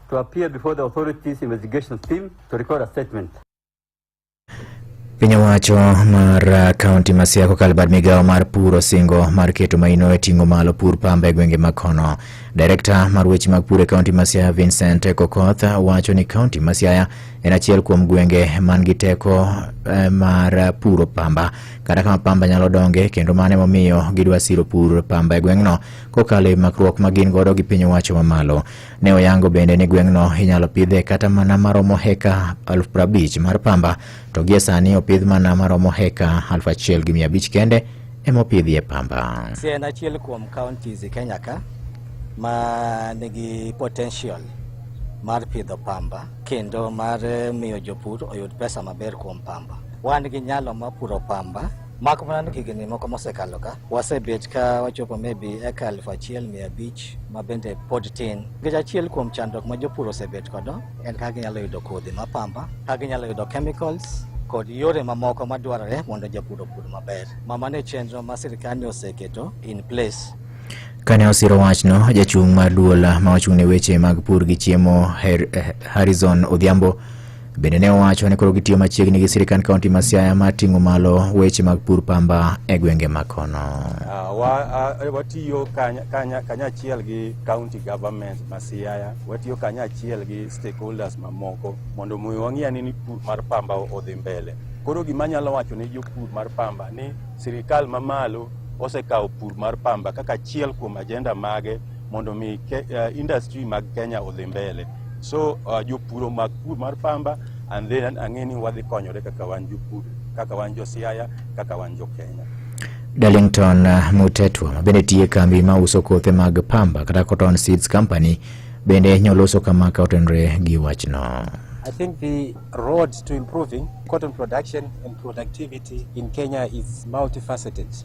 to appear before the authorities investigation team to record a statement. Piny owacho mar uh, kaunti ma Siaya kokalo bad migawo mar pur osingo mar keto maino e ting'o malo pur pamba e gwenge ma kono. Direkta mar weche mag pur e kaunti ma Siaya Vincent Kokoth wacho ni kaunti ma Siaya en achiel kuom gwenge man gi teko eh, mar puro pamba kata kama pamba nyalo donge kendo mano emomiyo gidwa siro pur pamba e gweng'no kokalo e makruok ma gin godo gi piny owacho mamalo. Ne oyango bende ni gweng'no inyalo pidhe kata mana maromo heka aluf prabich mar pamba to gie sani opidh mana maromo heka aluf achiel gi mia abich kende emopidhie pamba. Siaya en achiel kuom counties e Kenya ka ma nigi potential mar pidho pamba kendo mar miyo jopur oyud pesa maber kuom pamba. Wan gi nyalo mar puro pamba Mak mana ni higni moko mosekalo ka wasebet ka wachopo maybe eka aluf achiel mia abich ma bende pod tin. Nikech achiel kuom chandruok ma jopur osebet kodo en kaka ginyalo yudo kodhi ma pamba, kaka ginyalo yudo chemicals kod yore mamoko madwarore mondo japur opur maber. Ma mano e chenro ma sirkal oseketo in place Kane osiro wachno, jachung' mar duol ma ochung' ne weche mag pur gi chiemo Harrison Odhiambo Bende ne owacho ni koro gitiyo machiegni gi sirikand kaunti ma Siaya mar ting'o malo weche mag pur pamba e gwenge ma kono. Ah, wa- ah, eh, watiyo kanya- kanya- kanyachiel gi county government ma Siaya, watiyo kanyachiel gi stakeholders mamoko mondo mi wang'e ni pur mar pamba odhi mbele. Koro gima anyalo wacho ne jopur mar pamba ni sirikal mamalo osekawo pur mar pamba kaka achiel kuom ajenda mage mondo mi ke, uh, industry mag Kenya odhi mbele. So uh, jopuro mag pur mar pamba and then ang'e ni wadhi konyore kaka wan jopur, kaka wan jo Siaya, kaka wan jo Kenya. Darlington uh, Mutetwa ma bende tiye kambi ma uso kothe mag pamba kata Cotton Seeds Company bende nyoloso kama ka otenre gi wachno. I think the road to improving cotton production and productivity in Kenya is multifaceted.